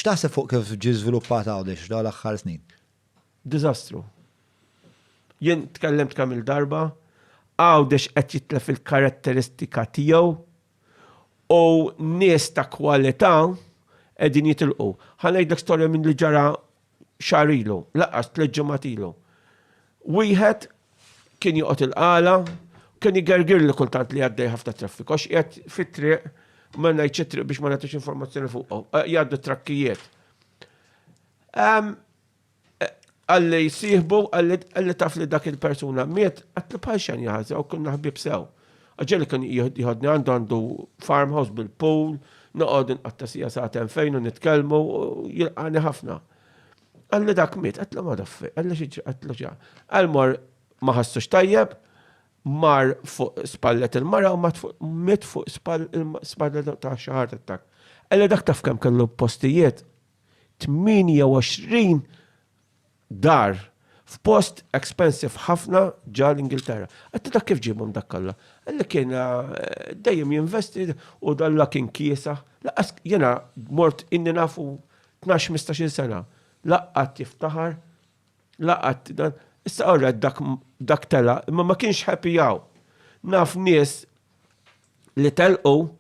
X'taħseb fuq kif ġie żviluppat Għawdex f'dawn l-aħħar snin? Diżastru. Jien tkellimt kemm il-darba, Għawdex qed jitlef il-karatteristika tiegħu u nies ta' kwalità qegħdin jitilqu. Ħa ngħidlek storja minn li ġara xahar ilu, lanqas tliet ġimgħat ilu. Wieħed kien joqgħod il-qala, kien jgergirli kultant li għaddej ħafna traffiku, għax qiegħed fit-triq ma ngħidx it-triq biex ma nagħtix informazzjoni fuqhom, eh, jgħaddu trakkijiet. Ehm, eh, għalli jisihbu, għalli taf li dak il-persuna miet, għatli bħal xan jgħazza u kunna ħbib sew. Għagġeli kien jgħodni għandu għandu farmhouse bil-pool, noqgħod inqatta sija sa'ten fejn u nitkellmu jilqani ħafna. Għalli dak mit, għatlu ma daffi, għalli xieġi, għatlu ġa. Għalmor maħassux tajjeb, mar fuq spallet il-mara u mit fuq spallet ta' xaħar ta' Għalli dak taf kem kellu postijiet, 28 dar f'post expensive ħafna ġa l-Ingilterra. Għatti dak kif ġibum dak kollha. Għalli kien eh, dejjem jinvesti u dalla kien kiesa. Laqas jena mort inni nafu Tnax mistax-il sena. La qatt jiftaħar, la qatt dan. Issa alright dak dak telaq, imma ma kienx happy hawn. Naf nies li telqu,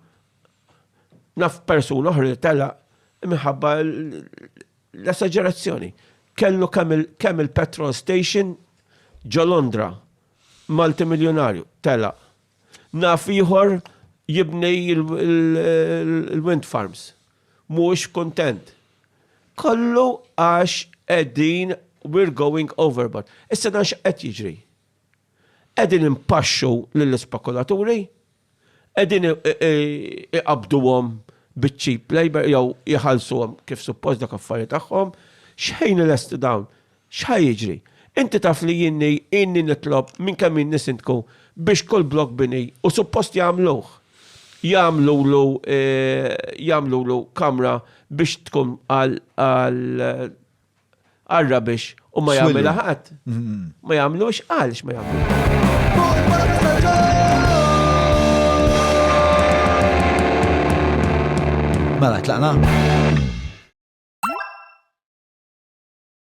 naf persuna oħra li telaq minħabba l-esaġerazzjoni. Kellu kemm il-petrol station ġo Londra, multimiljunarju, telaq. Naf ieħor jibni l-wind farms. Mhux kuntent. Kollu għax qegħdin we're going overboard. Issa dan x'qed jiġri? Qegħdin impaxxu lill-ispekulaturi, qegħdin iqabduhom biċ-cheap labor jew iħallsuhom kif suppost dak affarijiet tagħhom, x'ħin lesti dawn? X'ħa jiġri? Inti taf li jieni ilni nitlob minn kemm ilni Sindku biex kull blokk bini, u suppost jagħmluh, jagħmlulu jagħmlulu kamra biex tkun għal għal għar-rubbish u ma jagħmilha ħadd? Ma jagħmluhx għalx ma jagħmluhx? Mela tlaqna?